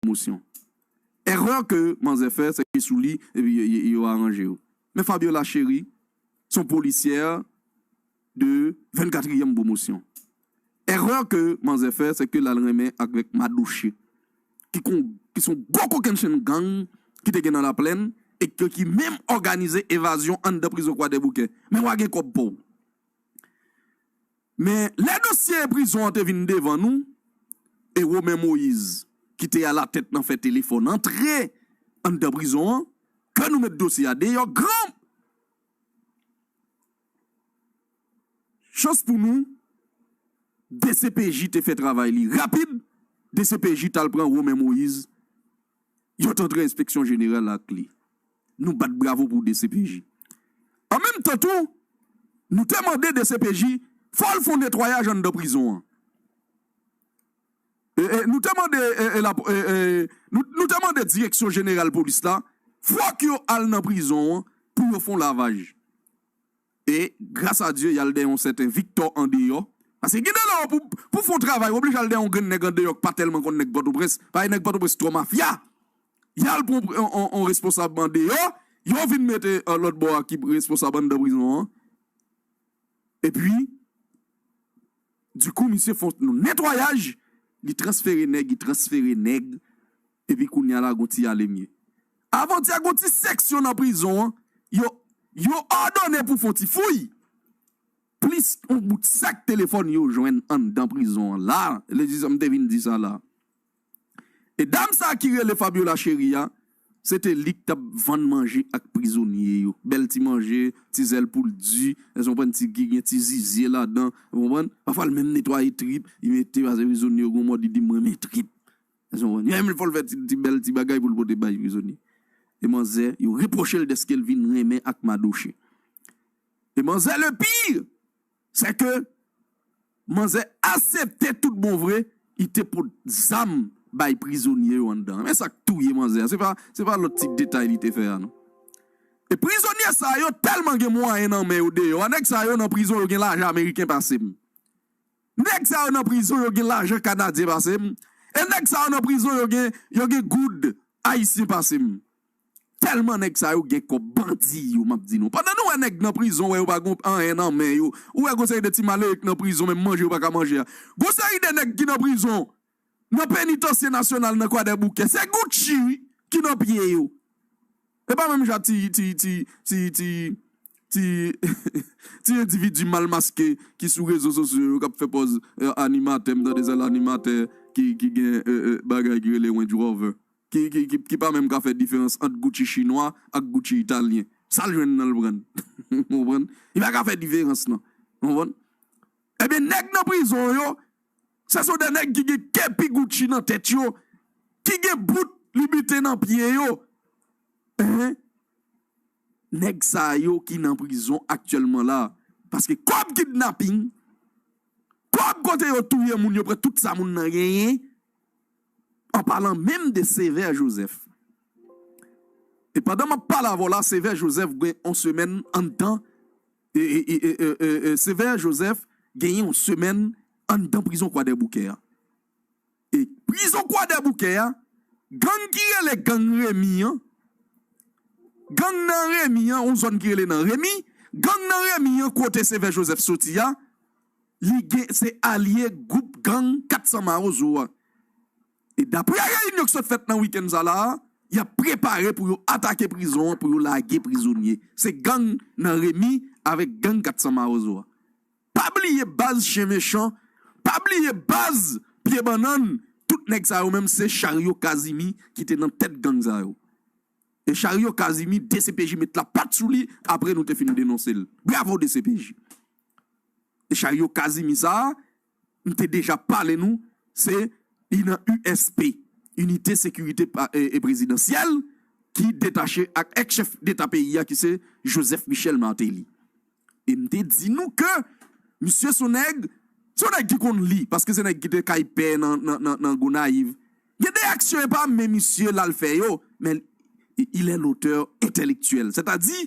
mosyon. Erreur ke manzè fè se ke sou li yo aranje yo. Men Fabiola Chéri son policière de 24 ième promotion. Erreur ke manzè fè se ke lal renmen avek Madoche ki kon ki son gwo kokenn chenn gang ki te gen nan laplèn e ke ki menm òganize evazyon anndan prizon kwadèboukè. Men wa gen kòb pouw. Men, lè dosye prizon an te vin devan nou, e Romain Moïse, ki te alatèt nan fè telefòn antre anndan prizon an, ke nou met dosye a deyò, gran chans pou nou, dcpj te fè travay li rapid, dcpj t al pran Romain Moïse Yo t antre enspeksyon jeneral la ak li. Nou bat bravo pou dcpj. An menm tan tou, nou te mande dcpj fò l fon netwayaj anndan prizon an. Nou te mande nou te mande direksyon jeneral polis la fòk yo al nan prizon an pou yo fon lavaj. E gras a Dye y al dèyè yon sèten Viktò andeyò. Paske gen de lè w pou w fè yon travay w oblije al dèyè yon grenn nèg andeyò k pa tèlman konn nèg Pòtoprens. Paske nèg Pòtoprens twò mafya. Y al pran yon responsab andeyò, yo vin mete lòt bò a ki responsab anndan prizon an. Epi, dikou misye fè yon netwayaj, li transfere nèg, li transfere nèg. Epi kounya la gon ti ale mye. Avantye gon ti seksyon nan prizon an yo yo òdone pou fon ti fouy. Plis yon bout sak telefòn yo jwenn anndan prizon an la. Li di sa m te vin di sa la. E dam sa ki rele Fabiola Chery a, se te li k t ap vann manje ak prizonye yo. Bèl ti manje, ti zèl poul di, èske w konprann, ti ki gen ti zizye ladan, ou konprann. Pafwa l menm netwaye trip li mete pase prizonye yo gon mòd li di m renmen trip. Menm lè fò l fè ti bèl ti bagay pou l pote bay prizonye. E manzè yo repwoche l dèske l vin renmen ak Madoche. E manzè le pire sè ke manzè asepte tout bon vre li te pot zam bay prizonye yo anndan an. Men sa k touye manzè a, se pa lòt ti detay li te fè a non. E prizonye sa yo tèlman gen mwayen nan men yo deyò a. Nèg sa yo nan prizon yo gen lajan ameriken pase m. Neg sa yo nan prizon yo gen lajan kanadyen pasem e neg sa yo nan prizon yo gen yo gen goud ayisyen pasem telman neg sa yo gen kob bandi yo map di nou pandan nou wè neg nan prizon wè yo pa gon anyen nan men yo ou wè gon seri de ti malere ki nan prizon menm manje yo paka manje a gon seri de neg ki nan prizon Nan penitansye nasyonal nan kwadèboukè se Gucci wi ki nan pye yo e pa menm jan ti ti ti ti ti ti ti endividi mal maske ki sou rezo sosyo yo kap fè pòz animatè m tande sèl animatè ki ki gen bagay ki rele Range Rover ki ki ki pa menm ka fè diferans ant Gucci chinwa ak Gucci italyen sal jwenn nan l prann ou konprann li pa ka fè diferans nan ou konprann ebyen nèg nan prizon yo Sa son 2 nèg ki gen kepi Gucci nan tèt yo, ki gen bout Loubiten nan pye yo. Enh! Nèg sa yo ki nan prizon aktyèlman la, paske kòb kidnaping, kòb kote yo touye moun, yo pran tout sa moun nan genyen, an palan menm de Sévère Joseph. E pandan m ap pale avè w la, Sévère Joseph gen on semèn anndan Sévère Joseph genyen yon semèn anndan prizon kwadèboukè a. E prizon kwadèboukè a gang ki rele gang Remi an, gang nan Remi an yon zòn ki rele nan Remi, gang nan Remi an kote Sévère Joseph soti a li gen se alye gwoup gang 400 mawozo a. E daprè reyinyon ki sot fèt nan wikenn sa la a, y ap prepare pou yo atake prizon an pou yo lage prizonye. Se gang nan Remy avèk gang 400 mawozo a. Pa bliye baz chen mechan, pa bliye baz pye bannann, tout nèg sa yo menm se charyo kazimi ki te nan tèt gang sa yo. E charyo kazimi dcpj met lapat sou li apre nou te fin denonse l. Bravo dcpj! E charyo kazimi sa a. m te deja pale nou se I nan USP, Inite Sekirite Prezidansyèl, ki detache ak ex chèf deta peyi a ki se Joseph Michel Martelly. E m te di nou ke misye son nèg, se yon nèg ki konn li, paske se nèg ki te kay pè nan Gonayiv. Gen de aksyon e pa men misye l al fè yo, men il est l'auteur intellectuel. Sètadi,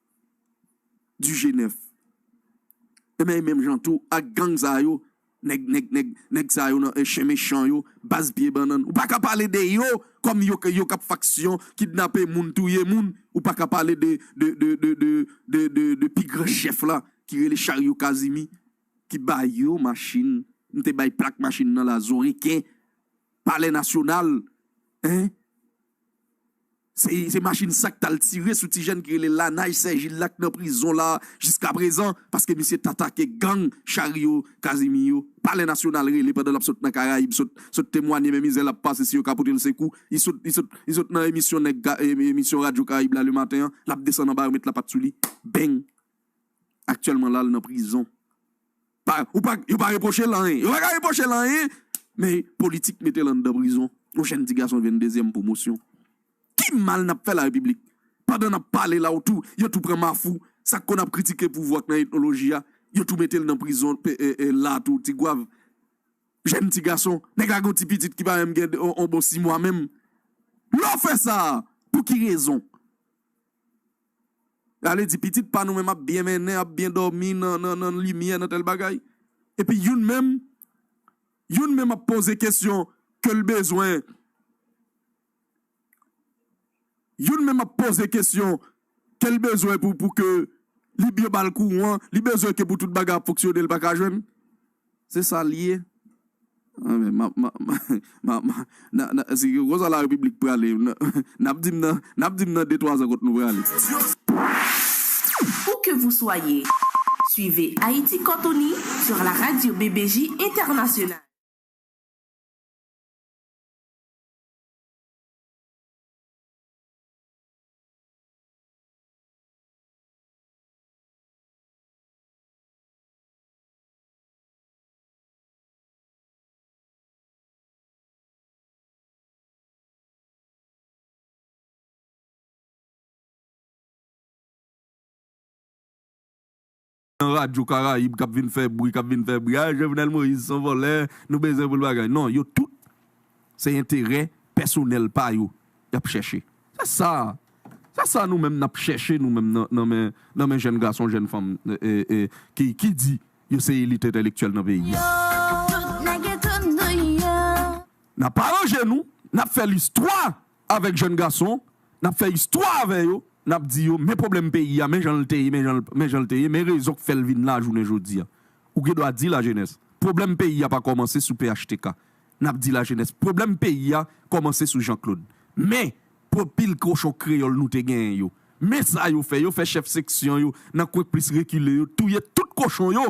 du G9 ebyen e menm jan tou ak gang sa yo nèg nèg nèg nèg sa yo nan chen mechan yo baz pye bannann ou paka pale de yo kòm yo yo kap faksyon kidnape moun touye moun ou paka pale de de de de de de de de pi gran chèf la ki rele Charyo Kazimi ki ba yo machin m te bay plak machin nan la zon reken palè nasyonal hein. Se machin sa k t al tire sou ti jèn ki rele Lanaj Sèjil la k nan prizon la jiskaprezan paske misye t atake gang Charyo Kazimi yo. Palè Nasyonal rele pandan l ap sot nan Karayib sot temwanye men mizè l ap pase si yo ka pote l sekou. Li sot nan emisyon nèg emisyon radyo Karayib la Lematen an, l ap desann anba yo met lapat sou li. Beng! Aktyèlman la l nan prizon. Pa ou pa yo pa repwoche l anyen. Yo pa ka repwoche l anyen men politik mete l anndan prizon. Yon jenn ti gason jwenn dezyèm pwomosyon. Ki mal n ap fè larepiblik? Pandan n ap pale la w tou yo tou pran Mafou sa k konn ap kritike pouvwa k nan etnoloji a yo tou mete l nan prizon la tou Tigwav. Jenn ti gason. Nèg la gen yon ti pitit ki pa menm gen yon bon simwa menm. Lè w fè sa a pou ki rezon? Y'ale di pitit pa nou menm ap byen mennen, ap byen dòmi nan, nan, nan limyè, nan tèl bagay. Epi youn menm, youn menm ap poze kesyon ke l bezwen, youn menm ap poze kesyon ke l bezwen pou, pou ke li byen ba l kouran, li bezwen ke pou tout bagay ap fonksyone l pa ka jwenn. Se sa li ye. Kon sa la repiblik prale. N ap di m nan, n ap di m nan de twa zan kot nou prale. Où que vous soyez, suivez Haïti Côte Unie sur la radio BBJ Internationale. Nan radyo karayib kap vin fè bri kap vin fè bri ah jovenel moïse son vòlè nou bezwen poul bagay non yo tout se enterè pèsonèl pa yo yap chèche Se sa, se sa nou menm nap chèche nou menm nan men nan men jèn gason, jèn fanm ki di yo se elit entèlektyèl nan peyi a. Nap aranje nou, nap fè listwa avèk jèn gason, nap fè istwa avè yo, nap di yo men pwoblèm peyi a, men jan l te ye, men jan l te ye, men rezon k fè l vin la jounen jodi a. Ou gen dwa di lajenès, pwoblèm peyi a pa kòmanse sou phtk. N ap di lajenès pwoblèm peyi a kòmanse sou Janklod. Men, pwòp pil kochon kreyòl nou te genyen yo, men sa yo fè, yo fè chèf seksyon yo nan kwen k plis rekile yo touye tout kochon yo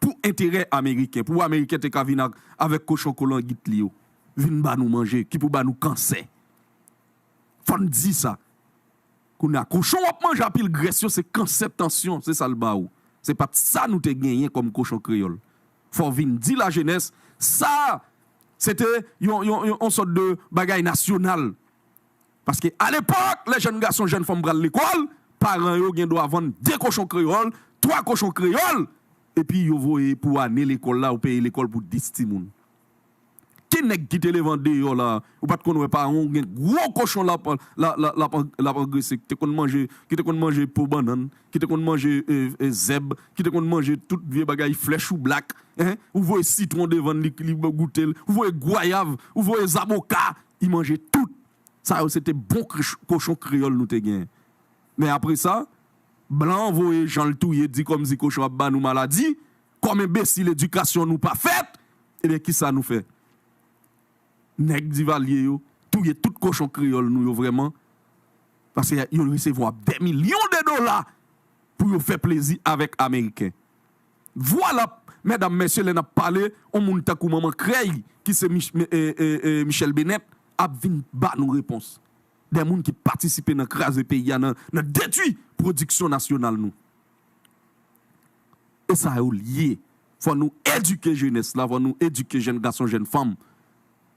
pou enterè ameriken, pou ameriken te ka vin avèk kochon kolangit li yo vin ba nou manje ki pou ba nou kansè. Fò n di sa. Kounye a, kochon w ap manje a pil grès yo se kansè, tansyon, se sa l ba ou. Se pa t sa nou te genyen kòm kochon kreyòl. Fò w vin di lajenès sa se te yon sòt de bagay nasyonal. Paske alepòk lè jèn gason, jèn fanm pral lekòl, paran yo gen dwa vann de kochon kreyòl, twa kochon kreyòl epi yo voye pou ane lekòl la ou peye lekòl pou dis timoun. Ki nèg ki te leve andeyò la ou pat konn wè paran w gen gwo kochon lap lap angrese ki te konn manje ki te konn manje po bannann ki te konn manje zèb ki te konn manje tout vye bagay flè choublak hein ou voye sitwon devann li li goute l ou voye gwayav ou voye zaboka li manje tout sa yo se te bon kochon kreyòl nou te gen men apresa blan an voye jan l touye di kòmsi kochon ap ba nou maladi Kòm enbesil edikasyon nou pa fèt ebyen kisa nou fè? Nèg Divalye yo touye tout kochon kreyòl nou yo vrèman paske yo resevwa dè milyon de dola pou yo fè plezi avèk ameriken. Vwala mèdam mèsye lè nap pale on moun tankou manman krèy ki se Michèl Benèt ap vin ba nou repons. Dè moun ki patisipe nan kraze peyi a nan detwi pwodiksyon nasyonal nou. e sa yo l ye. Fò nou edike jenès la, fò nou edike jenn gason, jenn fanm.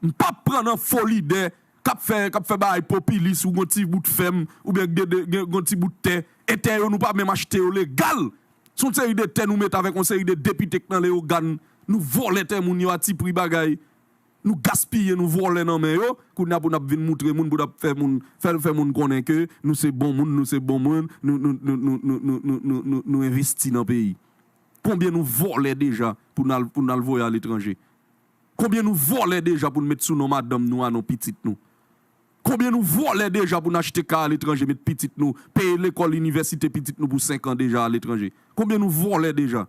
M p ap pran nan fo lidè k ap fè k ap fè bagay popilis ou gen yon ti bout fèm oubyen gen de gen yon ti bout tè e tè yo nou pa menm achte yo legal. S on seri de tè nou mete avèk yon seri de depite k nan leyogàn. Nou vòlè tè moun yo a ti pri bagay. Nou gaspiye nou vòlè nan men yo kounye a pou nap vin moutre moun pou nap fè moun fèl fè moun konnen ke nou se bon moun nou se bon moun nou nou nou nou nou nou nou nou nou nou envesti nan peyi konbyen nou vòlè deja pou nal pou nal voye aletranje konbyen nou vòlè deja poun met sou non madanm nou a non pitit nou konbyen nou vòlè deja poun achte kay aletranje met pitit nou peye lekòl inivèsite pitit nou pou senkan deja aletranje konbyen nou vòlè deja.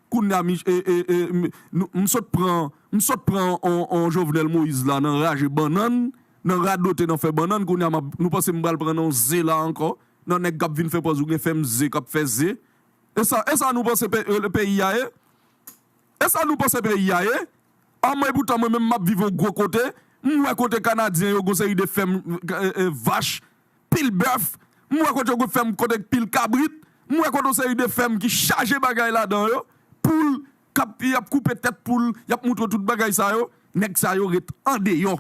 Kounya mi e e e m sot pran m sot pran on Jovenel Moïse la nan raje bannann, nan radote nan fè bannann kounya map nou panse m pral pran nan ze la ankò, nan nèg kap vin fè pòz ou gen fèm ze kap fè ze. Esa esa nou panse pe e peyi a ye? Esa nou panse peyi a ye? Anmwey poutan mwen menm map viv on gwo kote, m wè kote kanadyen yo gon seri de fèm e e vach pil bèf, m wè kote yo gen fèm kote gen pil kabrit, m wè kote yon seri de fèm ki chaje bagay ladan yo, poul k ap y ap koupe tèt poul, y ap montre w tout bagay sa yo. Nèg sa yo ret andeyò.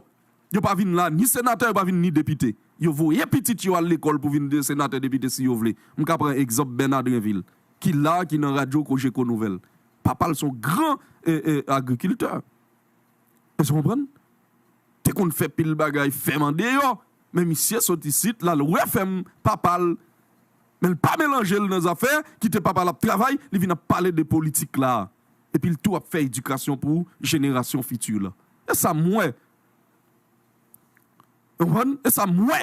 Yo pa vin la ni senatè, yo pa vin ni depite. Yo voye pitit yo al lekòl pou vin senatè, depite si yo vle. M ka pran egzanp Bèna Drenvil ki la a, ki nan radyo Cogeco Nouvelles. Papa l se yon gran agrikiltè. Èske w konprann? Te konn fè pil bagay fèm andeyò, men misye sot isit, l al wè fèm papa l, men l pa melanje l nan zafè, kite papa l ap travay, li vin ap pale de politik la a, epi l tou ap fè edikasyon pou jenerasyon fiti la. Se sa m wè. Konprann? E sa m wè!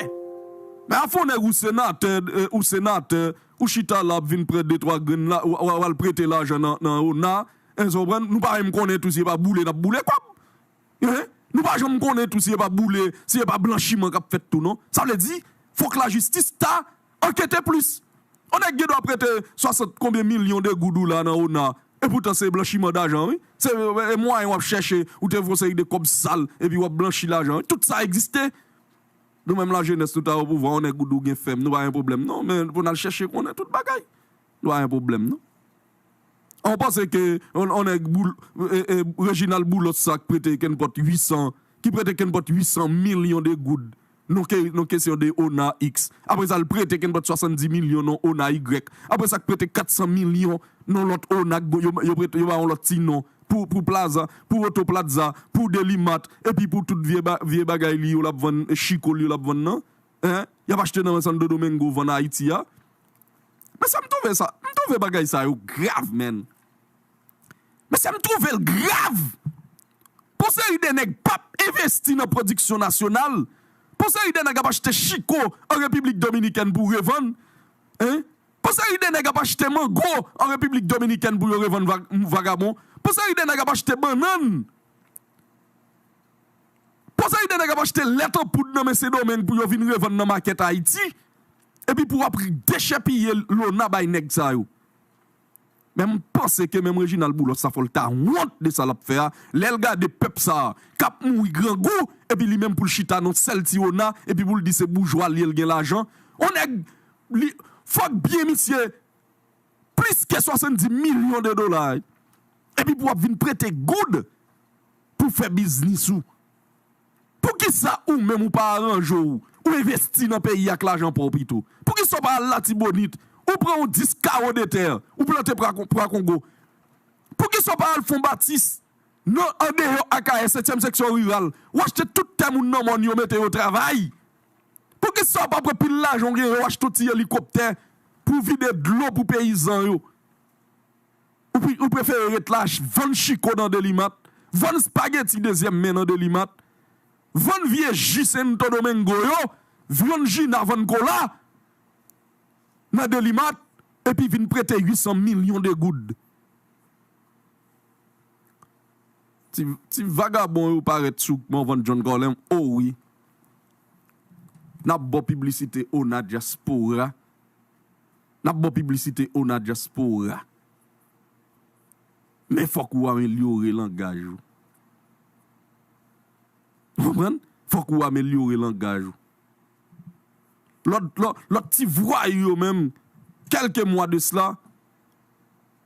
Men afè w nèg ou senatè, ou senatè, ou chita la ap vin pran de twa grenn la, w al prete lajan nan ona, èske w konprann? Nou pa menm konnen tou si e pa boule n ap boule kòb. Hein? Nou pa janm konnen tou si e pa boule, si e pa blanchiman k ap fèt tou non. Sa vle di, fòk lajistis ta Ankete plis! On nèg gen dwa prete 60 konbyen milyon de goud ou la nan ona epoutan se blanchiman dajan wi, se mwayen wap chèche ou te vwe on seri de kòb sal epi wap blanchi lajan wi, tout sa egziste. Nou menm lajenès nou ta opouvwa on nèg ou di w gen fèm nou pa gen pwoblèm non men pou n al chèche konnen tout bagay. Lwa yon pwoblèm non. An ou panse ke yon nèg Reginald Boulos sa k prete kenpòt 800, ki prete kenpòt 800 milyon de goud non ke non kesyon de ona X, apre sa l prete kenpòt 70 milyon non ona Y, apre sa k prete 400 milyon non lòt ona k yo yo prete yo ba yon lòt ti non pou pou plaza, pou oto platza, pou deli mart epi pou tout vye ba vye bagay li yo l ap vann chiko l yo l ap vann nan. hein yap achte nan santo domingo vann ayiti a mesye m trouve sa m trouve bagay sa yo grav menn mesye m trouve l grav pou yon seri de nèg pap envesti nan pwodiksyon nasyonal pou yon seri de nèg ap achte chiko an repiblik dominikèn pou revann hein pou yon seri de nèg ap achte mango an repiblik dominikèn pou yo revann vagabon pou yon seri de nèg ap achte bannann. Poze ide nèg ap achte lèt an poud nan men Sendomeng pou yo vin revann nan makèt Ayiti epi pou wap dechèpiye lona bay nèg sa yo. Men m panse ke menm Reginald Boulos sa fò l ta wont de sa l ap fè a lè l gade pèp sa a k ap mouri grangou epi li menm pou l chita nan sèl ti ona epi pou l di se boujwa l ye l gen lajan on nèg li fòk byen misye plis ke 70 milyon de dola epi pou wap vin prete goud pou fè biznis ou poukisa ou menm ou pa aranje w ou envesti nan peyi ak lajan paw pito poukisa ou pa al latibonit ou pran yon 10 kawo de tè ou plante pwa kongo poukisa ou pa al fon batis nan andeyò akayè setyèm seksyon riral ou achte tout tè moun nan mòn yo mete yo travay. Poukisa pa pran pil lajan ou genyen ou achte ti elikoptè pou vide dlo pou peyizan yo. Ou prefere ret la vann chiko nan delimat, vann spageti dezyèm men nan delimat, vann vye ji sento domengo yo, vyann jina vann kola nan delimat epi vin prete 800 milyon de goud. Ti vagabon yo parèt sou kman vann John Colem o wi. Nap baw piblisite ona dyaspora Nap baw piblisite ona dyaspora Men fòk ou amelyore langaj ou Ou konprann Fòk ou amelyore langaj ou Lòt lòt ti vwayou yo menm Kèlke mwa de sla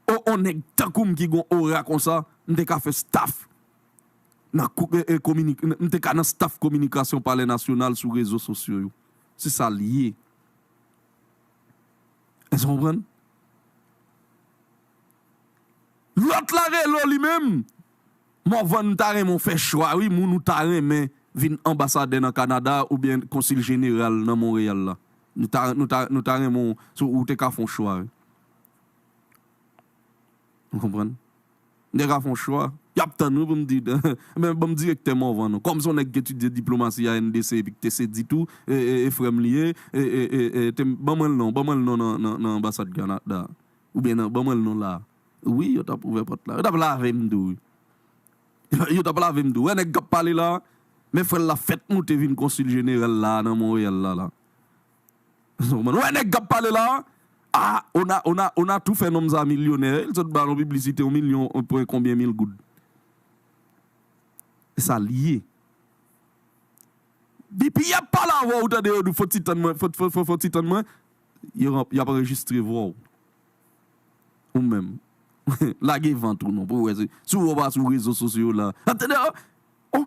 O on nèg tankoum ki gon ora konsa M te ka fè staff M te ka nan staf kominikasyon palè nasyonal sou rezo sosyo yo. Se sa l ye. Èske w konprann? Lòt la rele w li menm, Morvan m ta renmen w fè chwa wi moun ou ta renmen vin anbasadè nan Kanada oubyen konsil jeneral nan Monreyal la. Nou ta renmen w, si w te ka fè yon chwa wi. Ou konprann? Nèg a fon chwa. Yap tann wi pou m di dan. Men banm direktè Morvan non. Kòm se yon nèg ki etidye diplomasi a NDC epi ki te sedi tou, e frè m li ye, e te ban mwen l non, ban mwen l non nan anbasad Canada a. Oubyen nan, ban mwen l non la. Wi yo tap ouvè pòt la. Yo tap lave m tou wi. Yo tap lave m tou. Ou wè nèg kap pale la? Men frè l la fèt moute vin konsil jeneral la nan Montréal la la. Ou konn wè nèg kap pale la a ona ona ona tou fè nonm sa milyonè li sot ba nou piblisite yon milyon yon pwen konbyen mil goud esal ye dpi yap pale avèw ou tande yo di fon ti tann mwen fon fon fon ti tann mwen yap anrejistre vwa w ou menm lage vant ou non pou wè si ou wè ou pa sou rezo sosyo la ap tande yo. Oh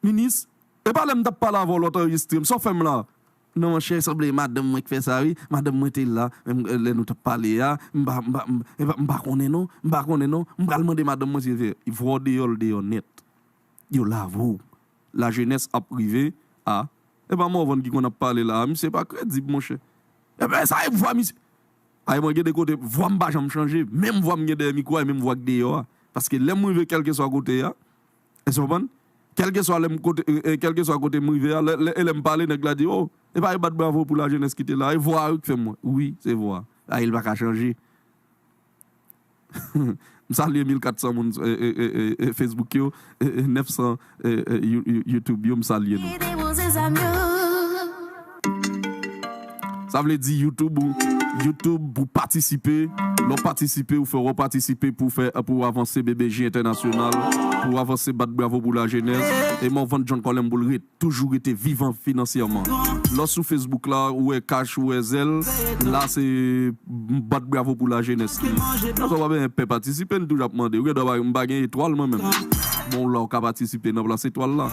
minis epa lèm tap pale avèw lòt anregistrem sa w fèm la. Non monchè sanble madanm mwen k fè sa wi madanm mwen te la lè nou tap pale a m pa m pa m pa konnen non m pa konnen non m pral mande madanm mwen si l fè vwa w deyò l deyò nèt yo lave w la jenès ap rive a epa Morvan ki konn ap pale la a misye pa kredib monchè epa sa e vwa misye ay mwen gen de kote vwa m pa janm chanje menm vwa m gen dèyè mikwo a e menm vwa k deyò a paske lèm rive kèlkeswa kote a. Èske w konprann? Kèlkeswa lè m kote, kèlkeswa kote m rive a, lè, lè, e lè m pale, nèg la di, O! E pa yo bat bravo pou lajenès ki te la a? E vwa a wi ki fè m wè. Wi, se vwa a. A, e l pa ka chanje. M salye 1400 moun Facebook yo, 900 You, You, YouTube yo, m salye nou. Sa vle di YouTube ou YouTube pou patisipe lè w patisipe ou fè wè w patisipe pou w fè pou w avanse BBJ entènasyonal pou w avanse bat bravo pou lajenès e Morvan John Colem pou l ret toujou rete vivan finansyèman lè w sou Facebook la ou wè cash ou wè Zelle la se bat bravo pou lajenès li lè w wè pa gen pè patisipe n toujou ap mande ou gen dwa m pa gen etwal mwen menm bon la w ka patisipe nan plas etwal la.